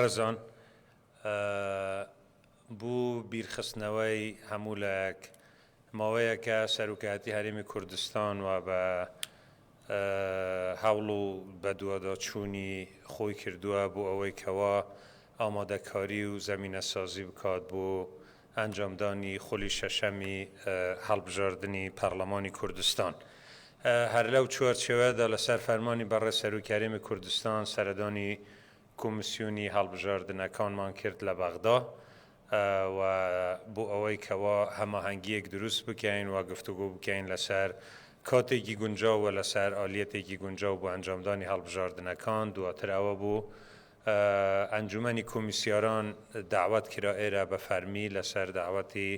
ئەرزان، بو بیرخستنەوەی هەمو لایەک، ماوەیەکە سەرۆکایەتی هەرێمی کوردستان و بە هەوڵ و بەدواداچونی خۆی کردوە بو ئەوەی کەوا ئامادەکاری و زەمینەسازی بکات بو ئەنجامدانی خولی شەشەمی هەڵبژاردنی پەڕلەمانی کوردستان. هەرلەو چوارچێوەدا لەسەر فەرمانی بەڕێز سەرۆکی هەرێمی کوردستان سەردانی کۆمیسیۆنی هەڵبژاردنەکانمان کرد لە بەغدا و بۆ ئەوەی کەوا هەماهەنگییەک دروست بکەین و گفتوگۆ بکەین لەسەر کاتێکی گونجاو و لەسەر ئالیەتێکی گونجاو بۆ ئەنجامدانی هەڵبژاردنەکان دواتر ئەوە بوو ئەنجومەنی کۆمیسیاران داوەت کرا ئێرە بە فەرمی لەسەر داوەتی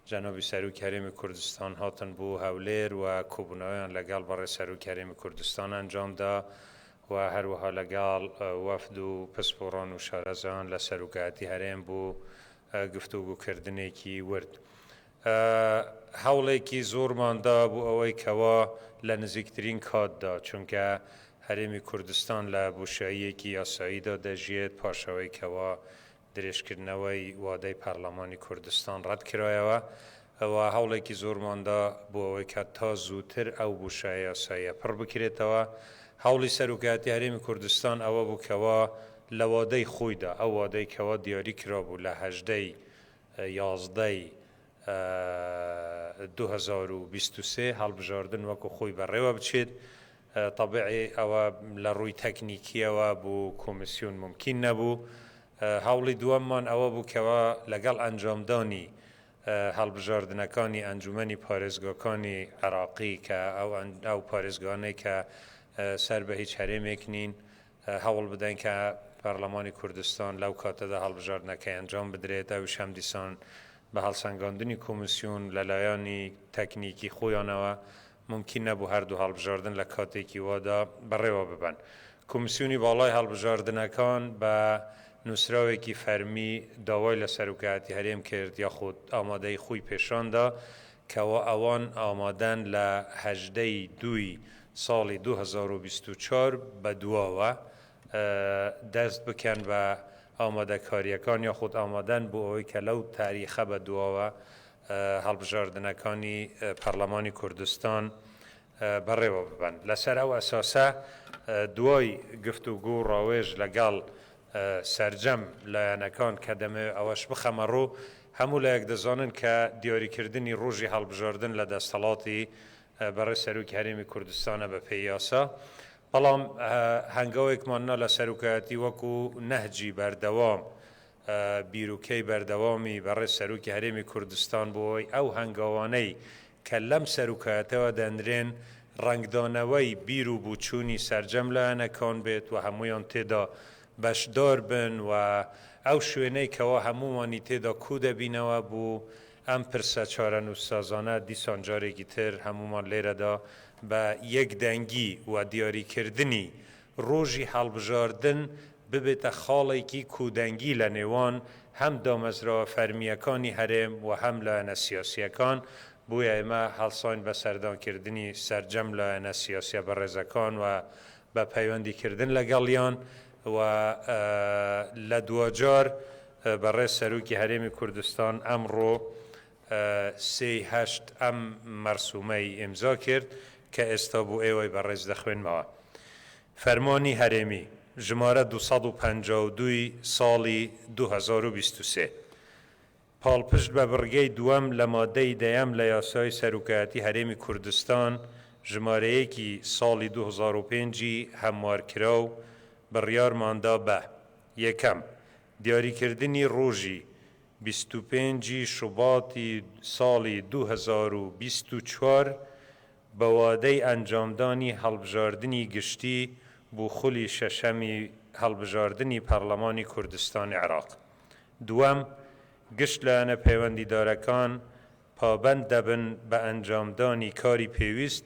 جەنابی سەرۆکی هەرێمی کوردستان هاتن بۆ هەولێر و کۆبوونەوەیان لەگەڵ بەڕێز سەرۆکی هەرێمی کوردستان ئەنجامدا و هەروەها لەگەڵ وەفد و پسپۆڕان و شارەزایان لە سەروکایەتی هەرێم بۆ گفتوگۆکردنێکی ورد هەوڵێکی زۆرمان دا بۆ ئەوەی کەوا لە نزیکترین کاتدا چونکە هەرێمی کوردستان لە بۆشاییەکی یاساییدا دەژیێت پاشەوەی کەوا درێژکردنەوەی وادەی پەرلەمانی کوردستان ڕەتکرایەوە و هەوڵێکی زۆرمان دا بۆ ئەوەی کە تا زووتر ئەو بوشایە یاساییە پڕ بکرێتەوە. هەوڵی سەرۆکایەتی هەرێمی کوردستان ئەوە بوو کەوا لە وادەی خۆیدا، ئەو وادەی کەوا دیاری کرابوو لە هەژدە ی یازدە ی دوو هەزار و بیست و سێ هەڵبژاردن وەکو خۆی بەڕێوە بچێت، تەبعی ئەوە لە ڕووی تەکنیکییەوە بۆ کۆمیسیۆن مومکین نەبوو. هەوڵی دووەممان ئەوە بوو کەوا لەگەڵ ئەنجامدانی هەڵبژاردنەکانی ئەنجومەنی پارێزگاکانی عێراقی کە ئەو پارێزگانەی کە سەر بە هیچ هەرێمێک نین، هەوڵ بدەین کە پارلەمانی کوردستان لەو کاتەدا هەڵبژاردنەکەی ئەنجام بدرێت، ئەویش هەمدیسان بە هەڵسەنگاندنی کۆمیسیۆن لە لایەنی تەکنیکی خۆیانەوە مومکین نەبوو هەردوو هەڵبژاردن لە کاتێکی وادا بەڕێوە ببەن. کۆمیسیۆنی باڵای هەڵبژاردنەکان بە نووسراوێکی فەرمی داوای لە سەرۆکایەتی هەرێم کرد یاخود ئامادەیی خۆی پێشان دا کەوا ئەوان ئامادەن لە هەژدە ی دووی ساڵی دوو هەزار و بیست و چوار بەدواوە دەست بکەن بە ئامادەکارییەکان یاخود ئامادەن بۆ ئەوەی کە لەو تاریخە بەدواوە هەڵبژاردنەکانی پەرلەمانی کوردستان بەڕێوە ببەن لەسەر ئەو ئەساسە دوای گفتوگۆ و ڕاوێژ لەگەڵ سەرجەم لایەنەکان کە دەمەوێت ئەوەش بخەمەڕوو، هەموو لایەک دەزانن کە دیاریکردنی ڕۆژی هەڵبژاردن لە دەستەڵاتی بەڕێز سەرۆکی هەرێمی کوردستانە بەپێی یاسا، بەڵام هەنگاوێکمان نا لە سەرۆکایەتی وەکو نەهجی بەردەوام بیروکەی بەردەوامی بەڕێز سەرۆکی هەرێمی کوردستان بۆ ئەوەی ئەو هەنگاوانەی کە لەم سەروکاتەوە دەنرێن، ڕەنگدانەوەی بیر و بوچوونی سەرجەم لایەنەکان بێت و هەموویان تێدا بەشدار بن و ئەو شوێنەی کەوا هەموومانی تێدا کوو دەبینەوە بۆ ئەم پرسە چارەنووسسازانە، دیسان جارێکی تر هەموومان لێرەدا بە یەکدەنگی و دیاریکردنی ڕۆژی هەڵبژاردن ببێتە خاڵێکی کودەنگی لە نێوان هەم دامەزراوە فەرمییەکانی هەرێم و هەم لایەنە سیاسییەکان، بۆیە ئێمە هەڵساین بە سەردانکردنی سەرجەم لایەنە سیاسییە بەڕێزەکان و بە پەیوەندیکردن لەگەڵیان و لە دواجار بەڕێز سەرۆکی هەرێمی کوردستان ئەمڕۆ سێی هەشت ئەم مەرسومەی ئیمزا کرد کە ئێستا بۆ ئێوەی بەڕێز دەخوێنمەوە. فەرمانی هەرێمی، ژمارە دوو سەد و پەنجا و دوو ی ساڵی دوو هەزار و بیست و سێ. پاڵپشت بە بڕگەی دووەم لە مادەی دەیەم لە یاسای سەرۆکایەتی هەرێمی کوردستان ژمارە یەک ی ساڵی دوو هەزار و پێنج ی هەموارکراو، بڕیارماندا بە، یەکەم، دیاریکردنی ڕۆژی بیست و پێنج ی شوباتی ساڵی دوو هەزار و بیست و چوار بە وادەی ئەنجامدانی هەڵبژاردنی گشتی بۆ خولی شەشەمی هەڵبژاردنی پەڕڵەمانی کوردستان عێراق دووەم گشت لایەنە پەیوەندیدارەکان پابەند دەبن بە ئەنجامدانی کاری پێویست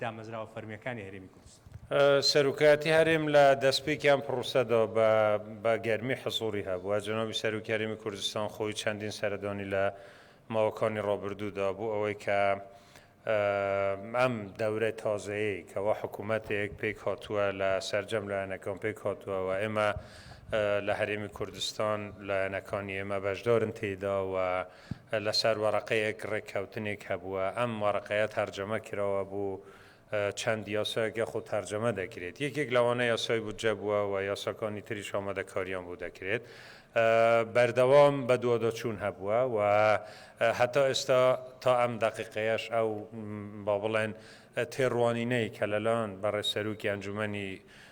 دامەزراوە فەرمییەکانی هەرێمی کوردستان. سەرۆکایەتی هەرێم لە دەستپێکی ئەم پڕۆسەدەوە بە بە گەرمی حزووڕی هەبووە، جەنابی سەرۆکی هەرێمی کوردستان خۆی چەندین سەردانی لە ماوەکانی ڕابردوو دا بۆ ئەوەی کە ئەم دەورە تازەیەی کەوا حکوومەتێک پێکهاتووە لە سەرجەم لایەنەکان پێکهاتووە و ئێمە لە هەرێمی کوردستان لایەنەکانی ئێمە بەشدارن تێیدا و لەسەر وەرەقەیەک ڕێککەوتنێک هەبووە، ئەم وەرەقەیە تەرجەمە کرەوە بۆ چەند یاسایەک یاخود تەرجەمە دەکرێت، یەکێک لەوانە یاسای بودجە بووە و یاساکانی تریش ئامادەکارییان بۆ دەکرێت. بەردەوام بەدواداچوون هەبووە و هەتا ئێستا تا ئەم دەقیقەیەش ئەو با بڵێن تێڕوانینەی کە لەلایەن بەڕێز سەرۆکی ئەنجوومەنی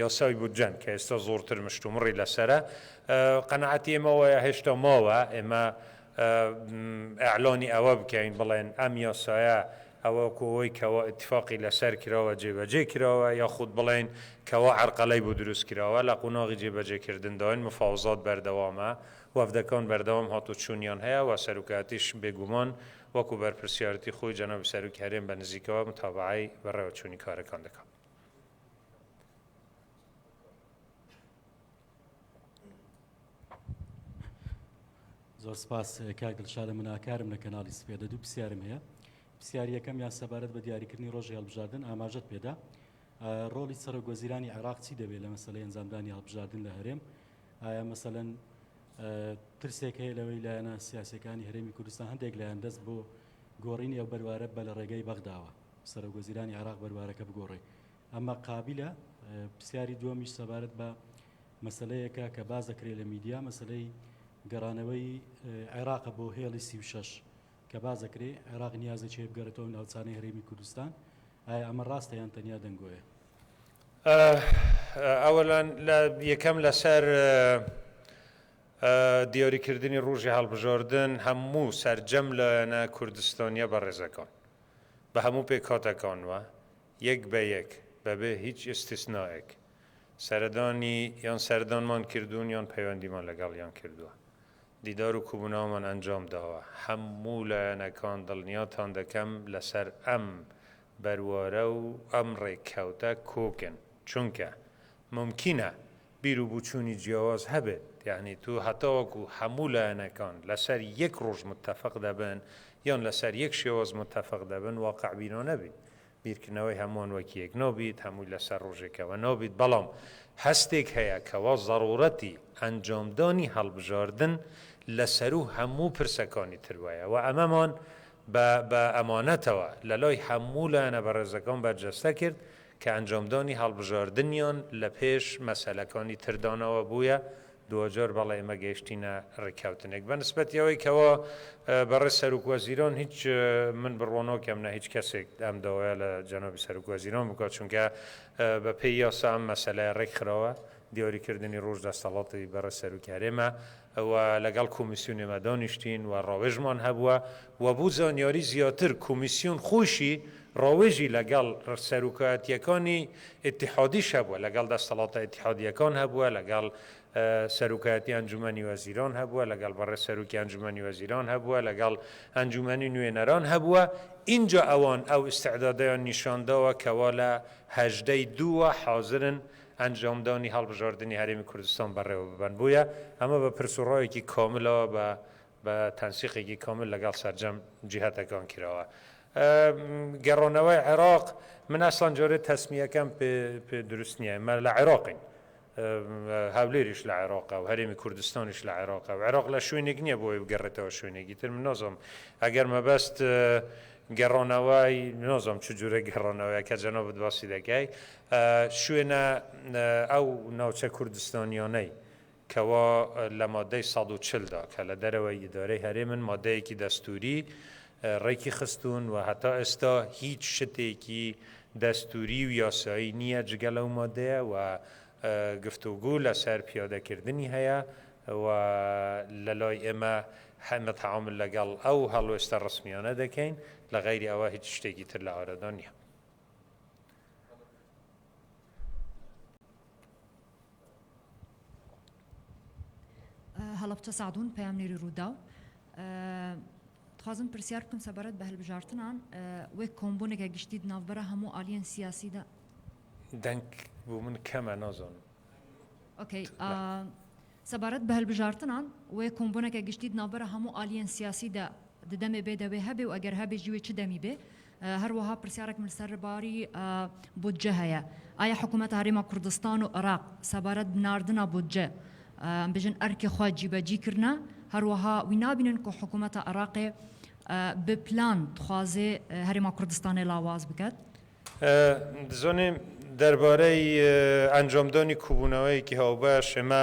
یاسای بودجەن کە ئێستا زۆرتر مشتومڕی لەسەرە، قەناعەتی ئێمە وایە هێشتا ماوە ئێمە ئیعلانی ئەوە بکەین بڵێن ئەم یاسایە ئەوە وەکو ئەوەی کەوا ئیتیفاقی لەسەر کراوە جێبەجێ کراوە یاخود بڵێین کەوا عەرقەلەی بۆ دروست کراوە لە قوناغی جێبەجێکردنداین مفاوزات بەردەوامە وەفدەکان بەردەوام هاتوچونیان هەیە و سەرۆکایەتیش بێگومان وەکو بەرپرسیارەتی خۆی جەنابی سەرۆکی هەرێم بە نزیکەوە متابەعەی بەڕێوەچونی کارەکان دەکات. زۆر سپاس کاک دڵشادە مناکارم لە کەناڵی سپێدە دوو پرسیارم هەیە پرسیاریەکەم یان سەبارەت بە دیاریکردنی ڕۆژی هەڵبژاردن ئاماژەت پێدا ڕۆڵی سەرۆک وەزیرانی عێراق چی دەبێت لە مەسلەی ئەنجامدانی هەڵبژاردن لە هەرێم ئایا مەسەەن ترسێک هەیە لەوەی لایەنە سیاسەکانی هەرێمی کوردستان هەندێک لایەن دەست بۆ گۆڕینی ئەو بەروارە بە لە ڕێگەی بەغداوە سەرۆک وەزیرانی عێراق بەروارەکە بگۆڕێ. ئەمە قابیلە؟ پرسیاری دووەمیش سەبارەت بە مەسەلەیەکە کە باس دەکرێ لە میدیا، مەسەلەی گەڕانەوەی عێراقە بۆ هێڵی سی و شەش کە باس دەکرێ عێراق نیازێ چێ بگەرێتەوە ئەو ناوچانەی هەرێمی کوردستان، ئایا ئەمە ڕاستە یان تەنیا دەنگۆیە؟ ئەوەلان لە یەکەم لەسەر دیۆریکردنی ڕوژی هەڵبژۆردن هەموو سەرجەم لایەنە کوردستانیە بەڕێزەکان بە هەموو پێکهاتەکانوە یەک بە یەک بەبێ هیچ ئیستیسنائێک سەردانی یان سەردانمان کردوون یان پەیوەندیمان لەگەڵیان کردووە دیدار و کوبوناومان ئەنجام داوە هەموو لایەنەکان دڵنیاتان دەکەم لەسەر ئەم بەروارە و ئەم ڕێککەوتە کۆکن چونکە مومکینە بیرو بوچونی جیاواز هەبێت یانی تو هەتاوەکو هەموو لایەنەکان لەسەر یەک ڕۆژ متەفق دەبن یان لەسەر یەک شێواز متەفق دەبن واقع بینانە بیت بیرکردنەوەی هەموان وەک یەک نابیت هەمووی لەسەر ڕۆژێکەوە نابیت بەڵام هەستێک هەیە کەوا زەڕوڕەتی ئەنجامدانی هەڵبژاردن لەسەروو هەموو پرسەکانی تر وایە وە ئەمەمان بە بە ئەمانەتەوە لەلای هەموو لایەنە بەڕێزەکان بەرجەستە کرد کە ئەنجامدانی هەڵبژاردنیان لە پێش مەسەلەکانی تردانەوە بوویە، دواجار بەڵێمە گەیشتینە ڕێککەوتنێک. بە نسبەتی ئەوەی کەوا بەڕێز سەرۆک وەزیران هیچ من بڕوا ناکەم نە هیچ کەسێک ئەم داوایە لە جەنابی سەرۆک وەزیران بکات، چونکە بە پێی یاسا ئەم مەسەلەیە ڕێکخراوە، دیاریکردنی ڕۆژ دەستەڵاتی بەڕێز سەرۆکی هەرێمە. و لەگەڵ کۆمیسیونی مە دانیشتین و ڕاوێژمان هەبووە و بۆ زانیاری زیاتر کۆمیسیون خۆیشی ڕاوێژی لەگەڵ سەرۆکایەتییەکانی ئیتیحادیش هەبووە، لەگەڵ دەستەڵاتە ئیتیحادییەکان هەبووە، لەگەڵ سەرۆکایەتی ئەنجومەنی وەزیران هەبووە، لەگەڵ بەڕێز سەرۆکی ئەنجومەنی وەزیران هەبووە، لەگەڵ ئەنجومەنی نوێنەران هەبووە، ئینجا ئەوان ئەو ئیستعدادەیان نیشان داوە کەوا لە هەژدە ی دوو وە حازرن ئەنجامدانی هەڵبژاردنی هەرێمی کوردستان بەڕێوەببەن، بۆیە ئەمە بە پرس و ڕایەکی کاملەوە بە بە تەنسیقێکی کامل لەگەڵ سەرجەم جیهەتەکان کراوە. گەڕانەوەی عێراق، من ئەسڵەن جارێ تەسمیەکەم پێ پێ دروست نییە، ئێمە لە عێراقین، هەولێریش لە عێراقە و هەرێمی کوردستانیش لە عێراقە و عێراق لە شوێنێک نییە بۆ ئەوەی بگەڕێتەوە شوێنێکی تر، من نازانم ئەگەر مەبەست گەڕانەوەی، نازانم چ جۆرە گەڕانەوەیە کە جەنابت باسی دەکەی، شوێنە ئەو ناوچە کوردستانیانەی کەوا لە مادەی سەد و چل دا کە لە دەرەوەی ئیدارەی هەرێمن مادەیەکی دەستووری ڕێکی خستوون و هەتا ئێستا هیچ شتێکی دەستووری و یاسایی نییە جگە لەو مادەیە و گفتوگۆ لەسەر پیادەکردنی هەیە و لە لای ئێمە حەمە تەعامول لەگەڵ ئەو هەڵوێستە ڕەسمیانە دەکەین لە غەیری ئەوە هیچ شتێکی تر لە ئارەدا نییە. هەڵەبچە سەعدون پەیامنێری رووداو، دخوازم پرسیار بکەم سەبارەت بە هەلبژارتنان وەک کۆمبونێکە گشتی دناوبرا هەموو ئالیەن سیاسیدا دەنگ بۆ من کەمە نازانم ئۆکەی سەبارەت بە هەلبژارتنان وەیە کۆمبونەکە گشتی دناوبرا هەموو ئالیەن سیاسیدا ددەمێ بێ دەوێ هەبێ و ئەگەر هەبێ جوێ چ دەمی بێ هەروەها پرسیارێکم لەسەر باری بودجە هەیە، ئایا حکوومەت هەرێمە کوردستان و عێراق سەبارەت بە ناردنە بودجە ئەمبژن ئەرکی خوا جیبەجی کردنە؟ هەروەها وی نابینن کە حکوومەتە عێراقێ بە پلان دخوازێ هەرێمە کوردستانێ لاواز بکەت؟ دزانێ دەربارەی ئەنجامدانی کوبوونەوەیەکی هاوبەش ئێمە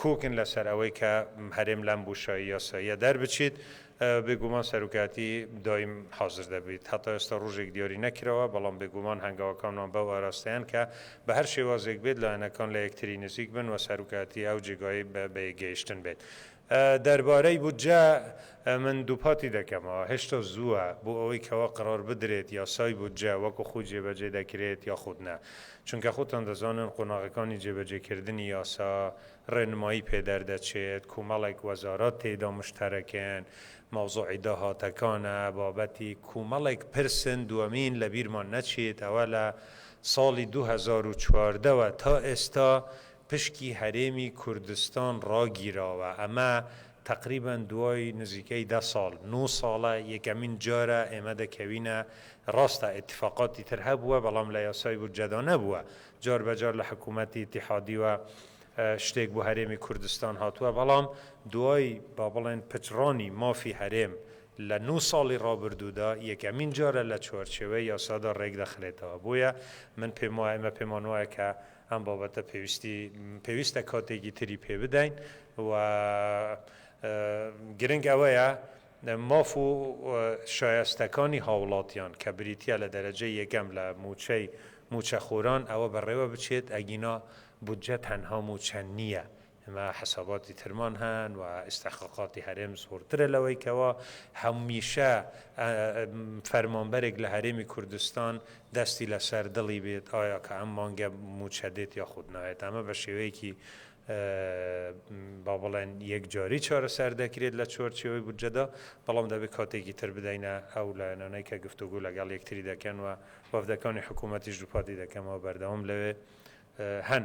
کۆکن لەسەر ئەوەی کە هەرێم لەم بوشاهی یاساییە دەربچیت، بێگومان سەرۆکایەتی دایم حازر دەبیت. هەتا ئێستا ڕۆژێک دیاری نەکراوە، بەڵام بێگومان هەنگاوەکانمان بەو ئاراستەیەن کە بە هەر شێوازێک بێت لایەنەکان لە یەکتری نزیک بن و سەرۆکایەتی ئەو جێگای بە یەکگەیشتن بێت. دەربارەی بودجە، من دووپاتی دەکەمەوە هێشتا زووە بۆ ئەوەی کەوا قەرار بدرێت یاسای بودجە وەکو خۆی جێبەجێ دەکرێت یاخود نا، چونکە خۆتان دەزانن قۆناغەکانی جێبەجێکردنی یاسا، ڕێنمایی پێ دەردەچێت، کۆمەڵێک وەزارەت تێیدا مشتەرەکن، مەوزوعی داهاتەکانە، بابەتی کۆمەڵێک پرسن، دووەمین لەبیرمان نەچێت ئەوە لە ساڵی دوو هەزار و چواردە وە تا ئێستا پشکی هەرێمی کوردستان ڕاگیراوە، ئەمە تەقریبەن دوای نزیکەی دە ساڵ، نۆ ساڵە یەکەمین جارە ئێمە دەکەوینە، ڕاستە ئیتفاقاتی تر هەبووە بەڵام لە یاسای بودجەدا نەبووە، جار بە جار لە حکوومەتی ئیتیحادیوە شتێک بۆ هەرێمی کوردستان هاتووە بەڵام دوای با بڵێن پچڕانی مافی هەرێم لە نۆ ساڵی ڕابردوودا یەکەمین جارە لە چوارچێوەی یاسادا ڕێک دەخرێتەوە بۆیە من پێم وایە ئێمە پێمان وایە کە ئەم بابەتە پێویستی پێویستە کاتێکی تری پێ بدەین و گرنگ ئەوەیە ماف و شایستەکانی هاوڵاتیان کە بریتە لە دەرەجەی یەکەم لە موچەی موچەخۆران ئەوە بەڕێوە بچێت ئەگینا بودجە تەنها موچە نییە ئێمە حەساباتی ترمان هەن و ئیستحقاقاتی هەرێم زۆرترە لەوەی کەوا هەمیشە فەرمانبەرێک لە هەرێمی کوردستان دەستی لەسەر دڵی بێت ئایا کە ئەم مانگە مووچە دێت یاخود نایێت ئەمە بە شێوەیەکی با بڵێن یەکجاری چارەسەر دەکرێت لە چوارچێوەی بودجەدا بەڵام دەبێت کاتێکی تر بدەینە ئەو لایەنانەی کە گفتوگو لەگەڵ یەکتری دەکەن و وەفدەکانی حکوومەتیش دووپاتی دەکەمەوە بەردەوام لەوێ هەن.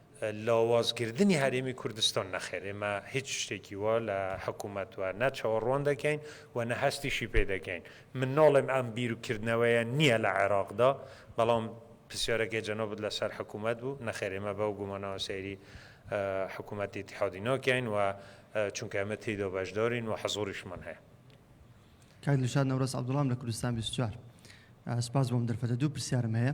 لاوازکردنی هەرێمی کوردستان، نەخێر ئێمە هیچ شتێکی وا لە حکوومەت وە نە چاوەڕوان دەکەین و نە هەستیشی پێ دەکەین. من ناڵێم ئەم بیر و کردنەوەیە نییە لە عێراقدا، بەڵام پرسیارەکەی جەنابت لە سەر حکوومەت بوو، نەخێر ئێمە بەو گومانەوە سەیری حکوومەتی ئیتیحادی ناکەین و چونکە ئێمە تێیدا بەشدارین و حزووریشمان هەیە. کاک دڵشاد نەورەس عەبدوڵام لە کوردستان بیست و چوار. سپاس بۆ ئەم دەرفەتە. دوو پرسیارم هەیە.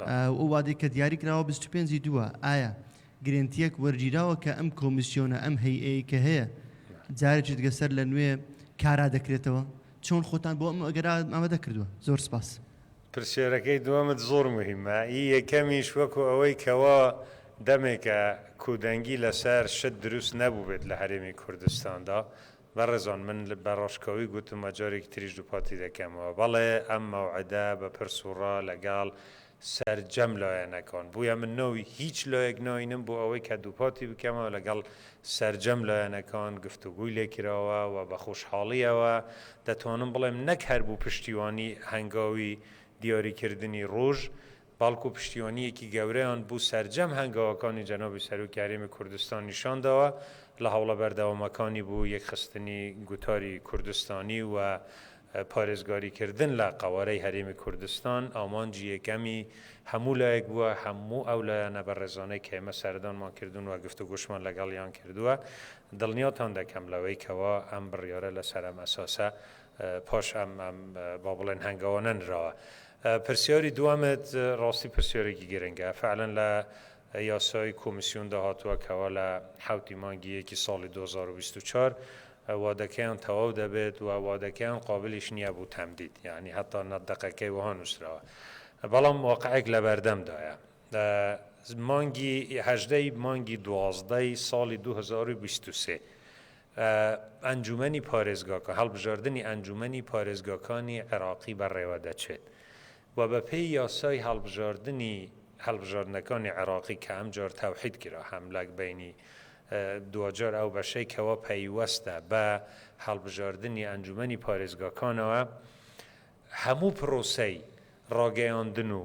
ئەو وادەی کە دیاری کراوە بیست و پێنج ی دووە ئایا گرێنتیەک وەرگیراوە کە ئەم کۆمیسیۆنە ئەم هەیئەیەی کە هەیە جارێکی دیگە سەر لە نوێ کارا دەکرێتەوە چۆن خۆتان بۆ ئەم ئەگەرا ئامادە کردووە زۆر سپاس. پرسیارەکەی دووەمت زۆر موهیمە، ئی یەکەمیش وەکو ئەوەی کەوا دەمێکە کودەنگی لەسەر شت دروست نەبووبێت لە هەرێمی کوردستاندا بەڕێزان من بە ڕاشکاوی گوتم و جارێکی تریش دووپاتی دەکەمەوە، بەڵێ ئەم مەوعدە بە پرس و ڕا لەگەڵ سەرجەم لایەنەکان بووە، من ناوی هیچ لایەک ناینم بۆ ئەوەی کە دووپاتی بکەمەوە لەگەڵ سەرجەم لایەنەکان گفتوگۆی لێ کراوە و بە خۆشحاڵییەوە دەتوانم بڵێم نەک هەر بۆ پشتیوانی هەنگاوی دیاریکردنی ڕۆژ بەڵکو پشتیوانییەکی گەورەیان بو سەرجەم هەنگاوەکانی جەنابی سەرۆکی هەرێمی کوردستان نیشان داوە لە هەوڵە بەردەوامەکانی بو یەکخستنی گوتاری کوردستانی و پارێزگاری کردن لە قەوارەی هەرێمی کوردستان ئامانجی یەکەمی هەمو لایەک بوە هەمو ئەو لایەنە بەڕێزانەی کە ئێمە سەردانمان کردون و گفتوگۆشمان لەگەڵیان کردوە دڵنیاتان دەکەم لەوەی کەوا ئەم بڕیارە لەسەر ئەم ئەساسە پاش ئەم با بڵێن هەنگاوانە نراوە. پرسیاری دووەمت ڕاستی پرسیارێکی گرنگە، فەعلەن لە یاسای کۆمیسیۆندا هاتووە کەوا لە حەوتی مانگی یەکی ساڵی دوو هەزار و بیست و چوار وادەکەیان تەواو دەبێت و وادەکەیان قابلیش نییە بۆ تەمدید، یەعنی هەتا نە دەقەکەی وەها نووسراوە، بەڵام واقعێک لەبەردەمدایە. مانگی هەژدە ی مانگی دوازدە ی ساڵی دوو هەزار و بیست و سێ ئەنجوومەنی پارێزگاکان، هەڵبژاردنی ئەنجوومەنی پارێزگاکانی عێراقی بەڕێوەدەچێت و بەپێی یاسای هەڵبژاردنی هەڵبژاردنەکانی عێراقی کە ئەمجار تەوحید کرا هەم لە بەینی دواجار ئەو بەشەی کەوا پەیوەستە بە هەڵبژاردنی ئەنجوومەنی پارێزگاکانەوە هەموو پرۆسەی ڕاگەیاندن و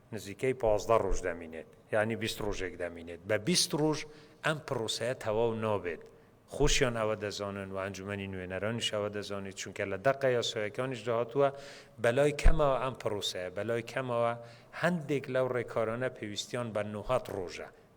نزیکەی پازدە ڕوژ دەمینێت یانی بیست ڕوژێک دەمینێت بە بیست ڕوژ ئەم پڕوسەیە تەواو نابێت خوشیان ئەوە دەزانن و ئەنجومەنی نوێنەرانیش ئەوە دەزانیت چونکە لە دەقە یاسایەکانیشدا هاتووە بەلای کەمەوە ئەم پڕوسەیە بەلای کەمەوە هەندێک لەو ڕێکارانە پێویستیان بە نۆهەد ڕوژە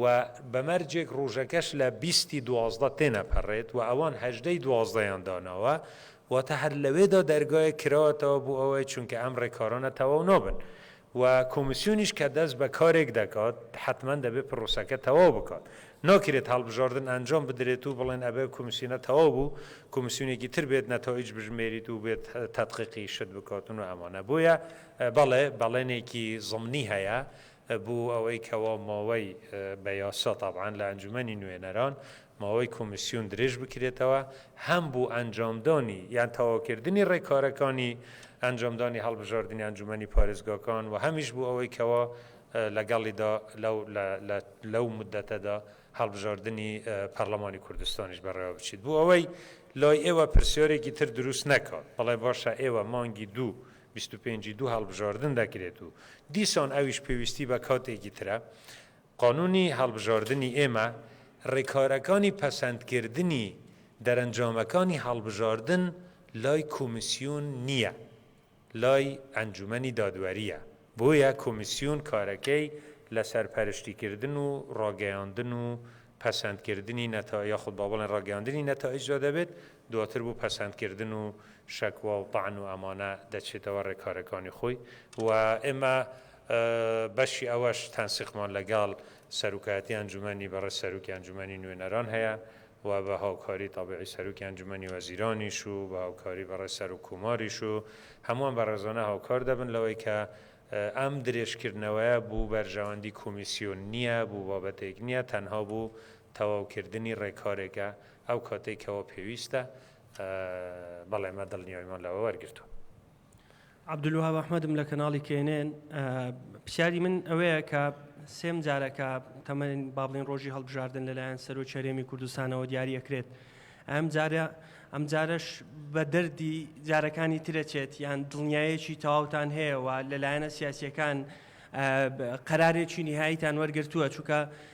و بە مەرجێک ڕوژەکەش لە بیستی دوازدە تێنەپەڕێت و ئەوان هەژدەی دوازدەیان داناوە واتە هەر لەوێدا دەرگایەک کراوەتەوە بۆ ئەوەی چونکە ئەم ڕێکارانە تەواو نابن و کۆمیسیۆنیش کە دەست بە کارێک دەکات حەتمەن دەبێت پرۆسەکە تەواو بکات ناکرێت هەڵبژاردن ئەنجام بدرێت و بڵێن ئەبێ کۆمیسیۆنە تەواو بوو کۆمیسیۆنێکی تر بێت نەتائیج بژمێریت و بێت تەدقیقی شت بکاتن و ئەمانە بۆیە بەڵێ بەڵێنێکی زمنی هەیە بۆ ئەوەی کەوا ماوەی بە یاسا تابعەن لە ئەنجومەنی نوێنەران ماوەی کۆمیسیۆن درێژ بکرێتەوە هەم بۆ ئەنجامدانی یان تەواوکردنی ڕێکارەکانی ئەنجامدانی هەڵبژاردنی ئەنجومەنی پارێزگاکان و هەمیش بۆ ئەوەی کەوا لەگەڵیدا لەو لەو مودەتەدا هەڵبژاردنی پەرلەمانی کوردستانیش بەڕێوە بچیت بۆ ئەوەی لای ئێوە پرسیارێکی تر دروست نەکات بڵێ باشە ئێوە مانگی دوو بیست و پێنج ی دوو هەڵبژاردن دەکرێت و دیسان ئەویش پێویستی بە کاتێکی ترە. قانوونی هەڵبژاردنی ئێمە ڕێکارەکانی پەسەندکردنی دەرەنجامەکانی هەڵبژاردن لای کۆمیسیۆن نییە، لای ئەنجوومەنی دادوەرییە، بۆیە کۆمیسیۆن کارەکەی لە سەرپەرشتیکردن و ڕاگەیاندن و پەسەندکردنی نەتا یاخود با بڵێین ڕاگەیاندنی نەتائیجدا دەبێت، دواتر بۆ پەسەندکردن و شەکوا و تەعن و ئەمانە دەچێتەوە رێکارەکانی خۆی و ئێمە بەشی ئەوەش تەنسیقمان لەگەڵ سەرۆکایەتی ئەنجومەنی بەڕێز سەرۆکی ئەنجومەنی نوێنەران هەیە و بە هاوکاری تەبیعی سەرۆکی ئەنجومەنی وەزیرانیش و بە هاوکاری بەڕێز سەرۆک کۆماریش و هەمووان بەڕێزانە هاوکار دەبن لەوەی کە ئەم درێژکردنەوەیە بۆ بەرژەوەندی کۆمیسیۆن نییە بۆ بابەتێک نییە تەنها بۆ تەواوکردنی ڕێکارێکە ئەو کاتەی کەوا پێویستە بەڵێ مە دڵنیایمان لەوە وەرگرتووە. عبدالوهاب احمدم لە کەناڵی کێنێن پرسیاری من ئەوەیە کە سێم جارەکە تەمەن بابلین ڕۆژی هەڵبژاردن لەلایەن سەرۆکی هەرێمی کوردستانەوە دیاری ئەکرێت ئەم جارە ئەم جارش بە دەردی جارەکانی ترەچێت یان دڵنیایەکی تەواوتان هەیەەوە لەلایەنە سیاسیەکان قەرارێکی نهاییتان وەرگرتووە چووکە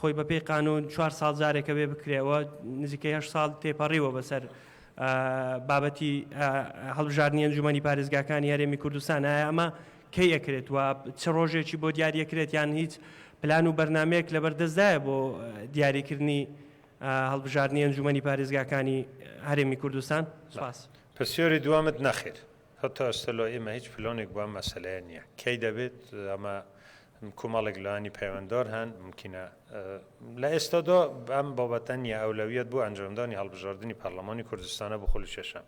خۆی بە پێی قانوون چوار ساڵ جارێک ئەبێ بکرێ و نزیکەی هەشت ساڵ تێپەڕیوە بەسەر بابەتی هەڵبژاردنی ئەنجومەنی پارێزگاکانی هەرێمی کوردستان ئایا ئەمە کەی ئەکرێت و چ ڕۆژێکی بۆ دیاریەکرێت یان هیچ پلان و بەرنمەیەک لەبەر دەستدایە بۆ دیاریکردنی هەڵبژاردنی ئەنجومەنی پارێزگاکانی هەرێمی کوردستان سپاس پرسیۆری دوامت نەخێر هەتا ئێستا لای ئێمە هیچ پلانێک بۆ ئەم مەسەلەیە نییە کەی دەبێت ئەمە کومەڵێک لانی پەیوەندار هەن مومکینە لە ئێستادا ئەم بابەتە نییە ئەولەویەت بۆ ئەنجامدانی هەڵبژاردنی پەرلەمانی کوردستانە بۆ خول و چێشان.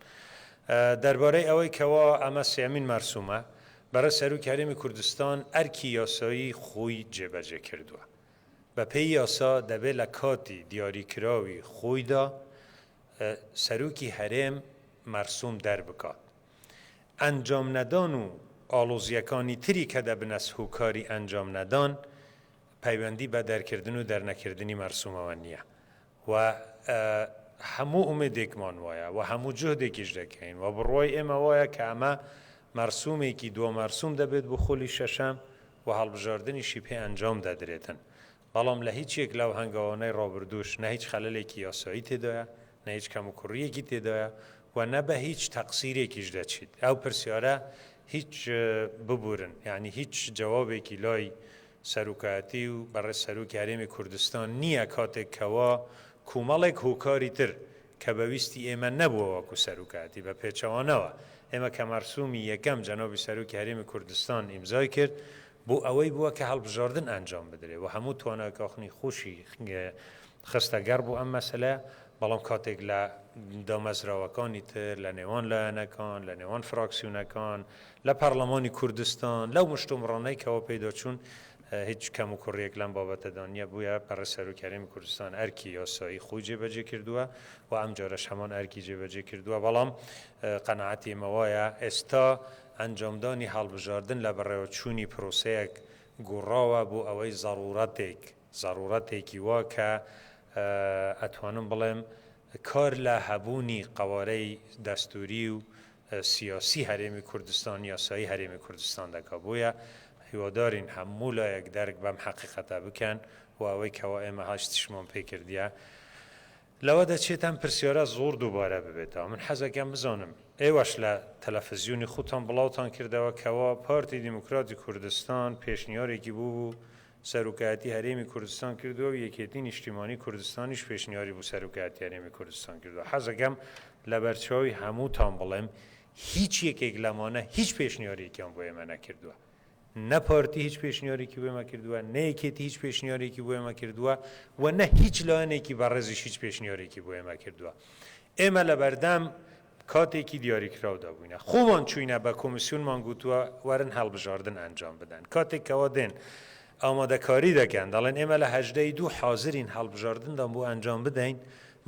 دەربارەی ئەوەی کەوا ئەمە سێیەمین مەرسومە بەڕێز سەرۆکی هەرێمی کوردستان ئەرکی یاسایی خۆی جێبەجێ کردووە. بە پێی یاسا دەبێ لە کاتی دیاریکراوی خۆیدا سەرۆکی هەرێم مەرسوم دەربکات. ئەنجام نەدان و ئاڵۆزییەکانی تری کە دەبنەس هوکاری ئەنجام نەدان پەیوەندی بە دەرکردن و دەرنەکردنی مەرسوومەوە نییە و هەموو ئومێدێکمان وایە و هەموو جهدێکیش دەکەین و بڕوای ئێمە وایە کە ئەمە مەرسوومێکی دو مەرسووم دەبێت بۆ خولی شەشەم و هەڵبژاردنیشی پێ ئەنجام دەدرێتن بەڵام لە هیچ یەک لەو هەنگاوانەی ڕابردووش نە هیچ خەلەلێکی یاسایی تێدایە، نە هیچ کەموکوڕییەکی تێدایە و نە بە هیچ تەقسیرێکیش دەچیت ئەو پرسیارە هیچ ببورن، یانی هیچ جەوابێکی لای سەرۆکایەتی و بەڕێز سەرۆکی هەرێمی کوردستان نییە کاتێک کەوا کومەڵێک هۆکاری تر کە بە ویستی ئێمە نەبووە وەکو سەروکاتی بە پێچەوانەوە ئێمە کە مەرسومی یەکەم جەنابی سەرۆکی هەرێمی کوردستان ئیمزای کرد بۆ ئەوەی بووە کە هەڵبژاردن ئەنجام بدرێ و هەموو توانای کاخنی خوشی خستە گەڕ بۆ ئەم مەسەلە بەڵام کاتێک لە دامەزراوەکانی تر لە نێوان لایەنەکان لە نێوان فراکسیونەکان لە پەرلەمانی کوردستان لەو مشتومڕانەی کەەوە پێداچوون هیچ کەم و کوڕیەک لەم بابەتەدا نیە، بۆیە بەڕێز سەرۆکی هەرێمی کوردستان ئەرکی یاسایی خۆی جێبەجێ کردووە و ئەم جارەش هەمان ئەرکی جێبەجێ کردووە، بەڵام قەناعەتی ئێمە وایە ئێستا ئەنجامدانی هەڵبژاردن لە بەڕێوەچوونی پرۆسەیەک گۆڕاوە بۆ ئەوەی زەڕوڕەتێک زەڕوڕەتێکی وا کە ئەتوانم بڵێم کار لە هەبوونی قەوارەی دەستووری و سیاسی هەرێمی کوردستان یاسایی هەرێمی کوردستان دەکات بۆیە هیوادارین هەموو لایەک دەرک بەم حەقیقەتە بکەن و ئەوەی کەوا ئێمە هاشتشمان پێ کردیە لەوە دەچێت ئەم پرسیارە زۆر دووبارە ببێتەوە من حەزەکەم بزانم ئێوەش لە تەلەفزیونی خوتان بڵاوتان کردەوە کەوا پارتی دیموکراتی کوردستان پێشنیارێکی بوو بوو سەرۆکایەتی هەرێمی کوردستان کردووە و یەکێتی نیشتیمانی کوردستانیش پێشنیاری بۆ سەرۆکایەتی هەرێمی کوردستان کردووە، حەزەکەم لەبەرچاوی هەمووتان بڵێم هیچ یەکێک لەمانە هیچ پێشنیارێکیان بۆ ئێمە نەکردووە، نە پارتی هیچ پێشنیارێکی بۆ ئێمە کردووە، نە یەکێتی هیچ پێشنیارێکی بۆ ئێمە کردووە و نە هیچ لایەنێکی بەڕێزیش هیچ پێشنیارێکی بۆ ئێمە کردووە. ئێمە لەبەردەم کاتێکی دیاریکراودا بووینە خۆمان چووینە بە کۆمیسیۆنمان گوتووە وەرن هەڵبژاردن ئەنجام بدەن کاتێک کەوا دێن ئامادەکاری دەکەن دەڵێن ئێمە لە هەژدە ی دوو حازرین هەڵبژاردندان بۆ ئەنجام بدەین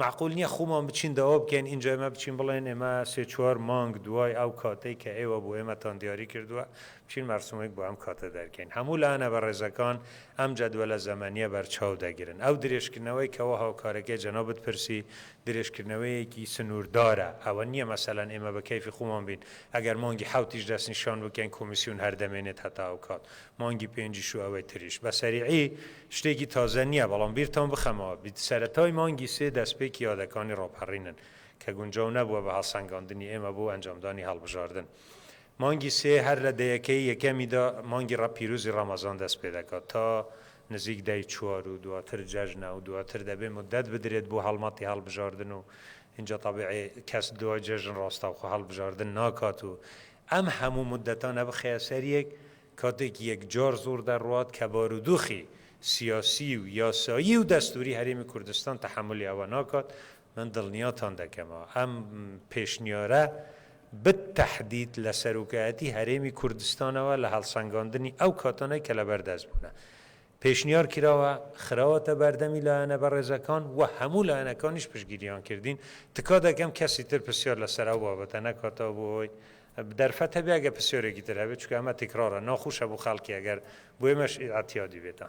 مەعقول نییە خۆمان بچین داوا بکەین ئینجا ئێمە بچین بڵێن ئێمە سێ چوار مانگ دوای ئەو کاتەی کە ئێوە بۆ ئێمەتان دیاری کردووە بچین مەرسومێک بۆ ئەم کاتە دەرکەین هەموو لایەنە بەڕێزەکان ئەم جەدوەلە زەمەنییە بەرچاو دەگرن ئەو درێژکردنەوەی کەوا هاوکارەکەی جەنابت پرسی درێژکردنەوەیەکی سنووردارە، ئەوە نییە مەسەلەن ئێمە بە کەیفی خۆمان بین، ئەگەر مانگی حەوتیش دەستنیشان بکەین کۆمیسیون هەر دەمێنێت هەتا ئەو کات، مانگی پێنجیش و ئەوەی تریش. بە سەریعی شتێکی تازە نییە، بەڵام بیرتان بخەمەوە، سەرەتای مانگی سێ دەستپێکی یادەکانی ڕاپەڕینن، کە گونجاو نەبووە بە هەڵسەنگاندنی ئێمە بۆ ئەنجامدانی هەڵبژاردن، مانگی سێ هەر لە دەیەکەی یەکەمیدا مانگی ڕە پیرۆزی ڕەمەزان دەست پێ دەکات تا نزیک دەی چوار و دواتر جەژنە و دواتر دەبێ موددەت بدرێت بۆ هەڵمەتی هەڵبژاردن و ئینجا تەبیعی کەس دوای جەژن ڕاستەوخۆ هەڵبژاردن ناکات و ئەم هەموو موددەتانە بخەیە سەر یەک کاتێک یەکجار زۆر دەڕوات کە بارودۆخی سیاسی و یاسایی و دەستووری هەرێمی کوردستان تەحەمولی ئەوە ناکات من دڵنیاتان دەکەمەوە ئەم پێشنیارە بت تەحدید لە سەرۆکایەتی هەرێمی کوردستانەوە لە هەڵسەنگاندنی ئەو کاتانەی کە لە بەردەست بوونە پێشنیار کراوە خراوەتە بەردەمی لایەنە بەڕێزەکان و هەموو لایەنەکانیش پشتگیریان کردین تکا دەکەم کەسی تر پرسیار لەسەر ئەو بابەتە نەکاتەوە بۆ هۆی دەرفەت هەبێ ئەگەر پرسیارێکی تر هەبێت چونکە ئەمە تکرارە ناخوشە بۆ خەڵکی ئەگەر بۆ ئێمەش ئیعتیادی بێتە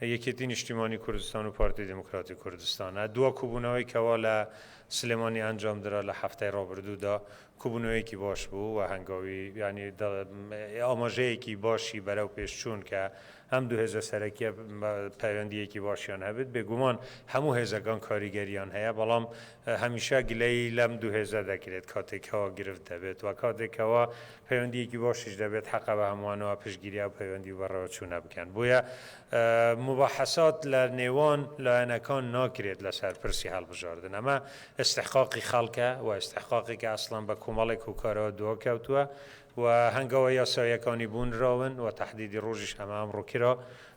یەکێتی نیشتیمانی کوردستان و پارتی دیموکراتی کوردستان ە، دوا کوبونەوەی کەوا لە سلێمانی ئەنجام درا لە حەفتای ڕابردوو دا کوبونەوەیەکی باش بوو و هەنگاوی یانی ئاماژەیەکی باشی بەرەو پێش چوون کە ئەم دوو هێزە سەرەکیە پەیوەندیەکی باشیان هەبێت بێگومان هەموو هێزەکان کاریگەریان هەیە بەڵام هەمیشە گلەیی لەم دوو هێزە دەکرێت کاتێک کەوا گرفت دەبێت و کاتێک کەوا پەیوەندییەکی باشیش دەبێت حەقە بە هەمووانەوە پشتگیری ئەو پەیوەندی و بەڕێوەچوونە بکەن بۆیە موباحەسات لە نێوان لایەنەکان ناکرێت لەسەر پرسی هەڵبژاردن ئەمە ئیستحقاقی خەڵکە و ئیستحقاقێکە ئەسڵەن بە کۆمەڵێک هۆکارەوە دواکەوتووە و هەنگاوە یاساییەکانی بونراون و تەحدیدی ڕۆژیش هەمە ئەمڕۆ کرا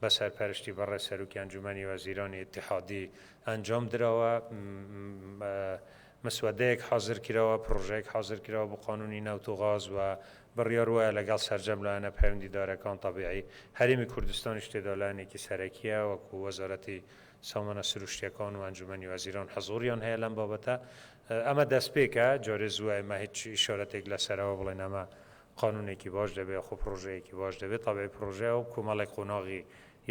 بە سەرپەرشتی بەڕێز سەرۆکی ئەنجومەنی وەزیرانی ئیتیحادی ئەنجام دراوە، مسوەدەیەک حازر کراوە، پڕۆژەیەک حازر کراوە بۆ قانوونی نەوت و غاز و بڕیار وایە لەگەڵ سەرجەم لایەنە پەیوەندیدارەکان، تەبیعی هەرێمی کوردستانیش تێدا لایەنێکی سەرەکییە، وەکوو وەزارەتی سامانە سروشتییەکان و ئەنجومەنی وەزیران حزووریان هەیە لەم بابەتە. ئەمە دەستپێکە، جارێ زووە ئێمە هیچ ئیشارەتێک لەسەرەوە بڵێین ئەمە قانونێکی باش دەبێ خۆ پڕۆژەیەکی باش دەبێ تەبعی پڕۆژەیە و کۆمەڵێک قۆناغی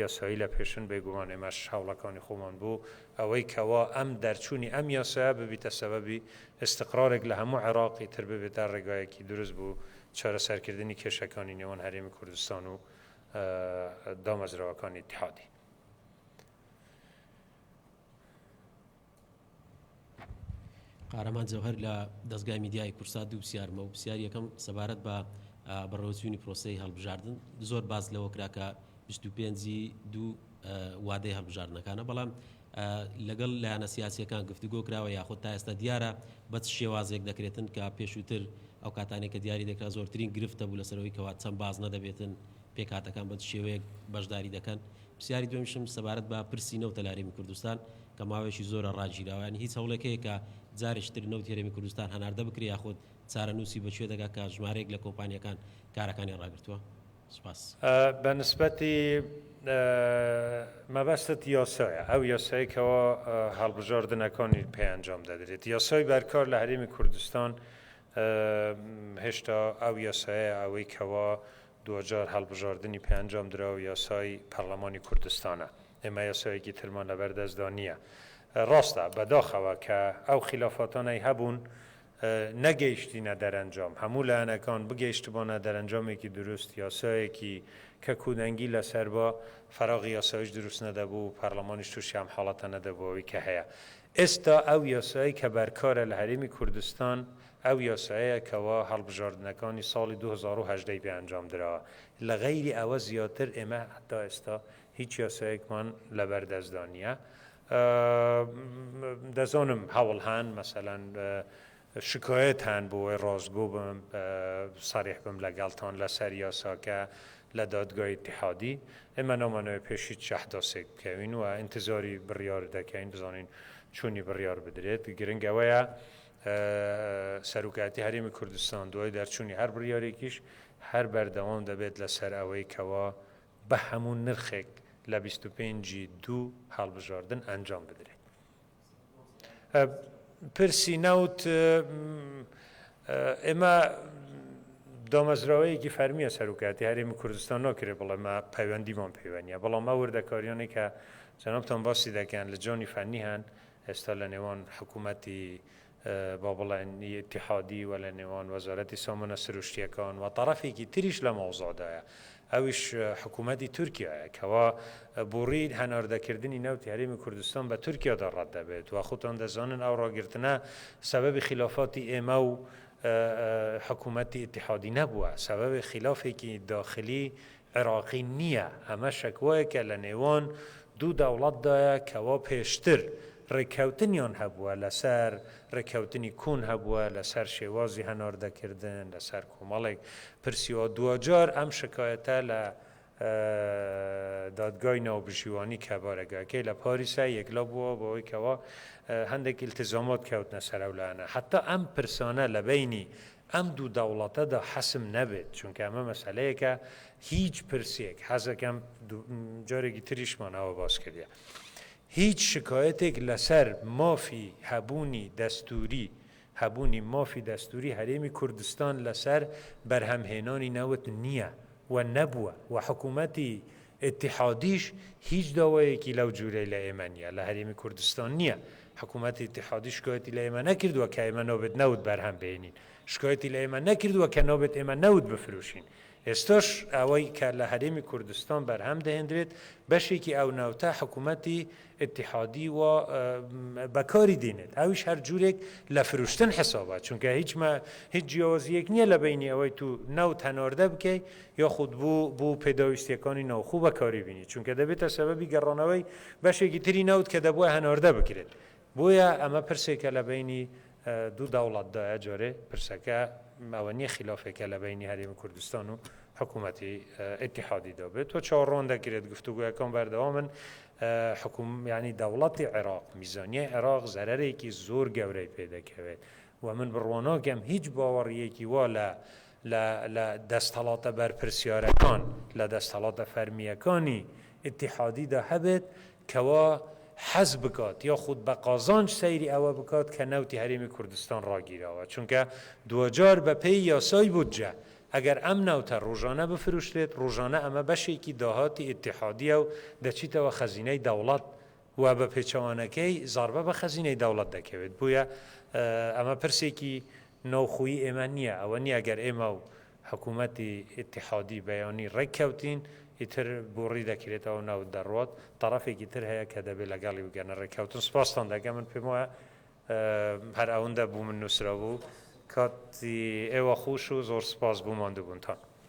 یاسایی لە پێشن بێگومان ئێمەش هەوڵەکانی خۆمان بۆ ئەوەی کەوا ئەم دەرچوونی ئەم یاسایە ببیتە سەبەبی ئیستقرارێک لە هەموو عێراق ئیتر ببێتە ڕێگایەکی دروست بۆ چارەسەرکردنی کێشەکانی نێوان هەرێمی کوردستان و دامەزراوەکانی ئیتحادی قارەمان جەوهەر لە دەزگای میدیایی کورسات دوو پرسیارم هەبوو، پرسیاری یەکەم سەبارەت بە بەڕێوەچوونی پرۆسەی هەڵبژاردن، زۆر باس لەوە کرا کە 25 ی دوو وادەی هەڵبژاردنەکانە، بەڵام لەگەڵ لایەنە سیاسییەکان گفتوگۆ کراوە یاخود تا ئێستا دیارە بە چ شێوازێک دەکرێتن کە پێشووتر ئەو کاتانێک کە دیاری دەکرا زۆرترین گرفتە بوو لەسەرەوەی کەوا چەند بازنە دەبێتن پێکهاتەکان بە چ شێوەیەک بەشداری دەکەن. پرسیاری دووەمیشم سەبارەت بە پرسی نەوتە لە هەرێمی کوردستان، کە ماوەیەکی زۆرە ڕاگیراوە، یانی هیچ هەوڵێک هەیە کە جارێکی تر نەوتی هەرێمی کوردستان هەناردە بکرێ یاخود چارەنووسی بە کوێ دەگا کە ژمارەیەک لە کۆمپانیاکان کارەکانیان ڕاگرتووە؟ سوپاس. بە نسبەتی مەبەستت یاسایە، ئەو یاسایەی کەوا هەڵبژاردنەکانی پێ ئەنجام دەدرێت، یاسای بەرکار لە هەرێمی کوردستان هێشتا ئەو یاسایە ئەوەی کەوا دواجار هەڵبژاردنی پێ ئەنجام درا و یاسای پەڕڵەمانی کوردستانە. ئێمە یاسایەکی ترمان لەبەر دەستدا نییە. ڕاستە، بەداخەوە، کە ئەو خیلافاتانەی هەبوون نەگەیشتینە دەرەنجام، هەموو لایەنەکان بگەیشتبانە دەرەنجامێکی دروست، یاسایەکی کە کودەنگی لەسەر با، فەراغی یاساییش دروست نەدەبوو و پەرلەمانیش تووشی ئەم حاڵەتە نەدەبوو ئەوەی کە هەیە. ئێستا ئەو یاسایەی کە بەرکارە لە هەرێمی کوردستان، ئەو یاسایەیە کەوا هەڵبژاردنەکانی ساڵی دوو هەزار و هەژدە ی پێ ئەنجام درا. لە غەیری ئەوە زیاتر ئێمە هەتا ئێستا هیچ یاسایەکمان لەبەردەستدا نییە. دەزانم هەوڵ هەن مەسەلەن شکایەت هەن بۆ ئەوەی ڕاستگۆ بم، سەریح بم لەگەڵتان لەسەر یاساکە لە دادگای ئیتیحادی. ئێمە نامانەوێت پێش هیچ شەحداسێک بکەوین و ئینتزاری بڕیار دەکەین بزانین چۆنی بڕیار بدرێت. گرنگ ئەوەیە سەرۆکایەتی هەرێمی کوردستان دوای دەرچوونی هەر بڕیارێکیش هەر بەردەوام دەبێت لەسەر ئەوەی کەوا بە هەموو نرخێک لە بیست و پێنج ی دوو هەڵبژاردن ئەنجام بدرێت. پرسی نەوت ئێمە دامەزراوەیەکی فەرمیە سەرکاتی هەرێمی کوردستان ناکرێت بڵێمە پەیوەندیمان پەیوەنیە بەڵام ئەو وردەکاریانی کە جەنابتان باسی دەکەن لە جۆنی فەنی هەن ئێستا لە نێوان حکوومەتی با بڵێن ی ئیتیحادی و لە نێوان وەزارەتی سامانە سروشتییەکان و تەڕەفێکی تریش لە مەوزوعدایە ئەویش حکوومەتی تورکیایە کەوا بووڕی هەناردەکردنی نەوتی هەرێمی کوردستان بە تورکیادا ڕەت دەبێت و خۆتان دەزانن ئەو ڕاگرتنە سەبەبی خیلافاتی ئێمە و حکوومەتی ئیتیحادی نەبووە سەبەبی خیلافێکی داخلی عێراقی نییە، ئەمە شەکوایەکە لە نێوان دوو دەوڵەتدایە کەوا پێشتر رێککەوتنیان هەبووە لەسەر رێککەوتنی کۆن هەبووە لەسەر شێوازی هەناردەکردن لەسەر کۆمەڵێک پرسی و دواجار ئەم شکایەتە لە دادگای ناوبژیوانی کە بارەگاکەی لە پاریسە یەکلا بووە بەوەی کەوا هەندێک ئیلتیزامات کەوتنە سەر ئەو لایەنە حەتا ئەم پرسانە لە بەینی ئەم دوو دەوڵەتەدا حەسم نەبێت، چونکە ئەمە مەسەلەیەکە هیچ پرسێک، حەزەکەم جارێکی تریشمان ئەوە باس کردیە، هیچ شکایەتێک لەسەر مافی هەبوونی دەستووری، هەبوونی مافی دەستووری هەرێمی کوردستان لەسەر بەرهەمهێنانی نەوت نییە و نەبووە و حکوومەتی ئیتیحادیش هیچ داوایەکی لەو جورەی لە ئێمە نیە، لە هەرێمی کوردستان نیە، حکومەتی ئیتیحادی شکایەتی لە ئێمە نەکردوە کە ئێمە نابێت نەوت بەرهەم بهێنین، شکایەتی لە ئێمە نەکردوە کە نابێت ئێمە نەوت بفروشین، ئێستاش ئەوەی کە لە هەرێمی کوردستان بەرهەم دەهێندرێت بەشێکی ئەو نەوتە حکومەتی ئیتیحادی وا بەکاری دێنێت ئەویش هەر جورێک لە فروشتن حسابە چونکە هیچ مە هیچ جیاوازیەک نییە لە بینی ئەوەی تو نەوت هەناردە بکەی یاخود بو بو پێداویستیەکانی ناوخو بەکاری بینی چونکە دەبێتە سەبەبی گەڕانەوەی بەشێکی تری نەوت کە دەبوایە هەناردە بکرێت بۆیە ئەمە پرسێکە لە بینی دو دەوڵەتدایە جارێ پرسەکە ئەوە نییە خلافێکە لە بینی هەرێمی کوردستان و حکومەتی ئیتیحادیدا بێت و چاوەڕوان دەکرێت گفتوگۆیەکان بەردەوامن حکومەتی دەوڵەتی عێراق، میزانیەی عێراق زەرەرێکی زۆر گەورەی پێ دەکەوێت و من بڕواناکەم هیچ باوەڕییەکی وا لە لە دەستەڵاتە بەرپرسیارەکان، لە دەستەڵاتە فەرمییەکانی ئیتیحادیدا هەبێت کەوا حەز بکات یاخود بە قازانج سەیری ئەوە بکات کە نەوتی هەرێمی کوردستان ڕاگیراوە، چونکە دواجار بەپێی یاسای بودجە ئەگەر ئەم نەوتە ڕۆژانە بفروشرێت، ڕۆژانە ئەمە بەشێکی داهاتی ئیتیحادیە و دەچیتەوە خەزینەی دەوڵەت و بە پێچەوانەکەی زەڕبە بە خەزینەی دەوڵەت دەکەوێت، بۆیە ئەمە پرسێکی ناوخۆیی ئێمە نیە، ئەوە نیە ئەگەر ئێمە و حکومەتی ئیتیحادی بەیانی ڕێک کەوتین ئیتر بۆڕی دەکرێتەوە نەوت دەڕوات، تەڕەفێکی تر هەیە کە دەبێت لەگەڵی بگەنە ڕێککەوتن، سپاستان دەکەم من پێم وایە هەر ئەوندە بوو من نوسرەبوو. کاتی ئێوە خوش و زۆر سوپاس بۆ ماندوبونتان.